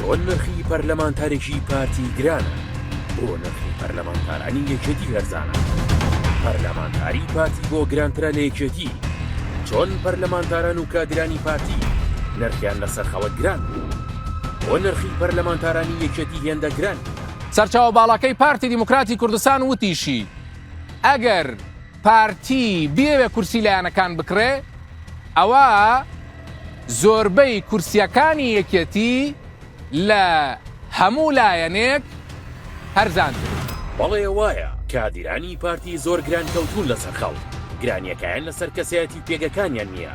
چۆن نرخی پەرلەمانتارێکی پارتی گرانە بۆ نرخی پەرلەمانتارانی یەکێتی هەرزانە پەرلەمانتاری پارتی بۆ گرانترە لە یەکێتی چۆن پەرلەمانتاران و کادرانی پارتی نرخیان لەسەر خەوە گران بوو بۆ نرخی پەرلەمانتارانی یەکێتی هێندە گران سەرچاوە باڵاکەی پارتی دیموکراتی کوردستان وتیشی، ئەگەر پارتی بیەوێ کورسی لایەنەکان بکڕێ ئەوا زۆربەی کورسیەکانی یەکێتی لە هەموو لایەنێک هەرزانتر. بەڵێ وایە، کادیرانی پارتی زۆر گران کەوتوون لەسەر خەڵک، گرانیەکایان لەسەر کەسایەتی و پێگەکانیان نیە،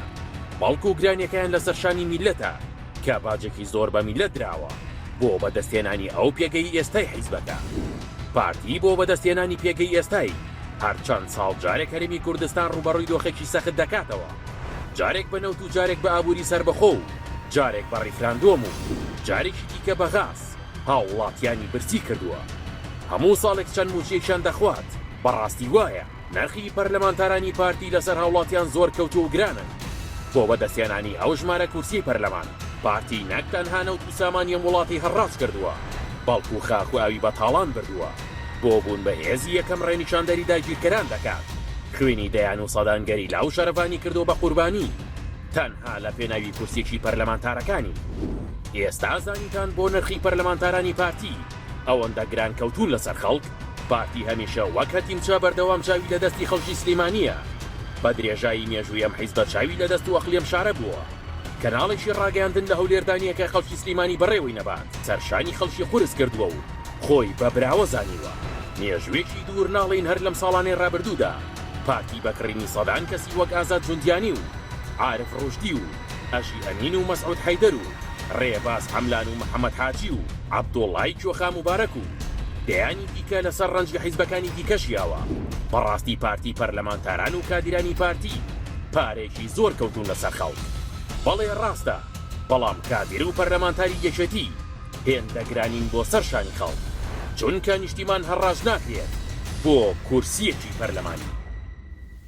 بەڵکو گرانیەکایان لەسەر شانی میللەتە، کە باجێکی زۆر بە میللەت دراوە بۆ بەدەستهێنانی ئەو پێگەی ئێستای حیزبەکە. پارتی بۆ بەدەستهێنانی پێگەی ئێستای، هەر چەند ساڵ جارێک هەرێمی کوردستان ڕووبەڕووی دۆخێکی سەخت دەکاتەوە، جارێک بە نەوت و جارێک بە ئابووری سەربەخۆ و جارێک بە ڕیفراندۆم و جارێکی دیکە بە غاز هاووڵاتییانی برسی کردووە. هەموو ساڵێک چەند مووچەیەکیان دەخوات، بەڕاستی وایە؟ نرخی پەرلەمانتارانی پارتی لەسەر هاوڵاتیان زۆر کەوتوە و گرانن، بۆ بەدەستهێنانی ئەو ژمارە کورسیەی پەرلەمان، پارتی نەک تەنها نەوت و سامانی ئەم وڵاتی هەڕاج کردوە، بەڵکو خاک و ئاوی بە تاڵان بردوە، بۆ بوون بە هێزی یەکەم ڕێنیشاندەری داگیرکەران دەکات، خوێنی دەیان و سەدان گەریلا و شەرڤانی کردوە بە قوربانی، تەنها لە پێناوی کورسیەکی پەرلەمانتارەکانی. ئێستا زانیتان بۆ نرخی پەرلەمانتارانی پارتی ئەوەندە گران کەوتون لەسەر خەڵک؟ پارتی هەمیشە وەک هەتیمچە بەردەوام چاوی لە دەستی خەڵکی سلیمانیە. بە درێژایی مێژووی ئەم حیزبە چاوی لە دەست و ئەقڵی ئەم شارە بووە. کەناڵێکی ڕاگەیاندن لە هەولێردا نیە کە خەڵکی سلیمانی بەڕێوەی نەبات. سەرشانی خەڵکی قورس کردووە و خۆی بە براوە زانیوە. مێژووێکی دوور ناڵێین هەر لەم ساڵانەی ڕابردوودا پارتی بە کڕینی سەدان کەسی وەک ئازاد جوندیانی و عارف ڕوشدی و ئەژی ئەمین و مەسعود حەیدەر و رێباز حەملان و محەمەد حاجی و عەبدوڵای کۆخا موبارەک و دەیانی دیکە لەسەر رەنج لە حیزبەکانی دیکە ژیاوە بەڕاستی پارتی پەرلەمانتاران و کادیرانی پارتی پارەیەکی زۆر کەوتون لەسەر خەڵک بەڵێ راستە بەڵام کادیر و پەرلەمانتاری یەکێتی هێندە گرانین بۆ سەر شانی خەڵک چونکە نیشتیمان هەڕاج ناکرێت بۆ کورسیەکی پەرلەمانی.